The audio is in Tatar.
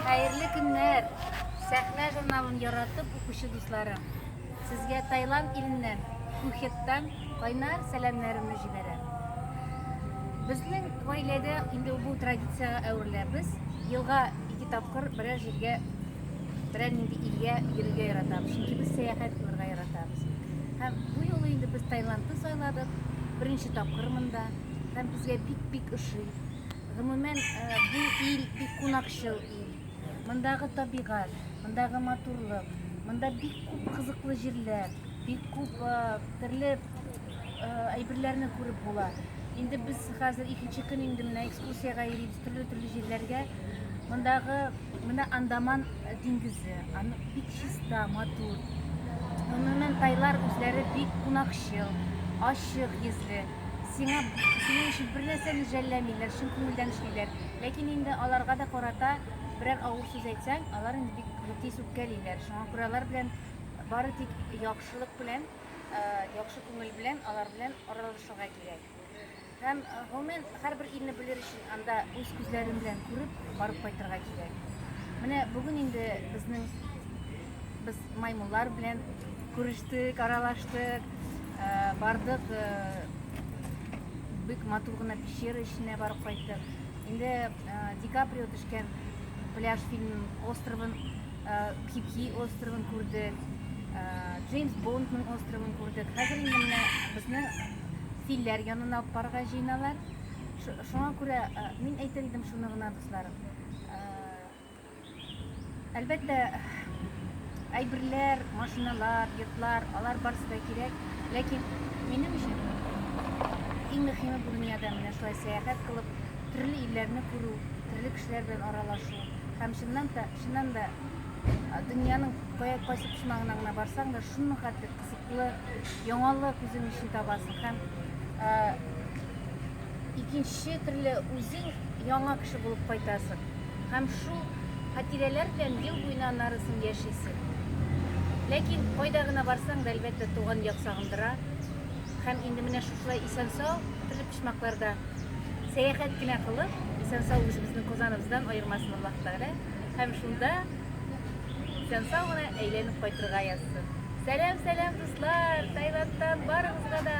Хәерле көннәр! Сәхнә журналын яратып укучы дусларым. Сезгә Таиланд иленнән, Пухеттан кайнар сәламнәремне җибәрәм. Безнең гаиләдә инде бу традициягә әверелә. Без елга ике тапкыр берәр җиргә, берәр нинди илгә йөрергә яратабыз. Чөнки без сәяхәт кылырга яратабыз. Һәм бу юлы инде без Таиландны сайладык. Беренче тапкыр монда. Һәм безгә бик-бик ошый. Гомумән, бу ил бик кунакчыл ил. Мондагы табигать, мондагы матурлык, монда бик күп кызыклы җирләр, бик күп төрле әйберләрне күреп була. Инде без хәзер икенче көн инде менә экскурсиягә йөрибез төрле-төрле җирләргә. Мондагы менә Андаман диңгезе, аны бик чиста, матур. Гомумән, тайлар үзләре бик кунакчыл, ачык йөзле. Сиңа синең өчен бернәрсәне жәлләмиләр, чын күңелдән эшлиләр. Ләкин инде аларга да карата берәр авыр сүз әйтсәң, алар инде бик тиз үпкәлиләр. Шуңа күрә алар белән бары тик яхшылык белән, э, яхшы күңел белән алар белән аралашырга кирәк. Һәм, гомумән, һәрбер илне белер өчен Анда үз күзләрем белән күреп, барып кайтырга кирәк. Менә бүген инде безнең без маймыллар белән күрештек, аралаштык, э, бардык, э, бик матур гына пещера эченә барып кайттык. Инде э, Ди Каприо төшкән пляж фильм островын, Кипки островын күрдек, Джеймс Бондның островын күрдек. Хәзер инде менә безне филләр янына алып барырга җыеналар. Шуңа күрә мин әйтер идем шуны гына, дусларым. Әлбәттә, әйберләр, машиналар, йортлар, алар барысы да кирәк. Ләкин минем өчен иң мөһиме бу дөньяда менә шулай сәяхәт кылып, төрле илләрне күрү, төрле кешеләр белән аралашу һәм чыннан да, чыннан да дөньяның кая кайсы почмагына гына барсаң да, шуның хәтле Кызыклы яңалык үзең өчен табасың һәм икенче төрле үзең яңа кеше булып кайтасың. Һәм шул хатирәләр белән ел буена аннары соң яшисең. Ләкин кайда гына барсаң да, әлбәттә, туган як сагындыра. Һәм инде менә шушылай исән-сау, төрле почмакларда сәяхәт кенә кылып, исән-сау үзебезнең Казаныбыздан аермасын Аллаһ Тәгалә. Һәм шунда Исән сау гына әйләнеп кайтырга язсын. Сәлам сәлам дуслар Таиландтан барыгызга да.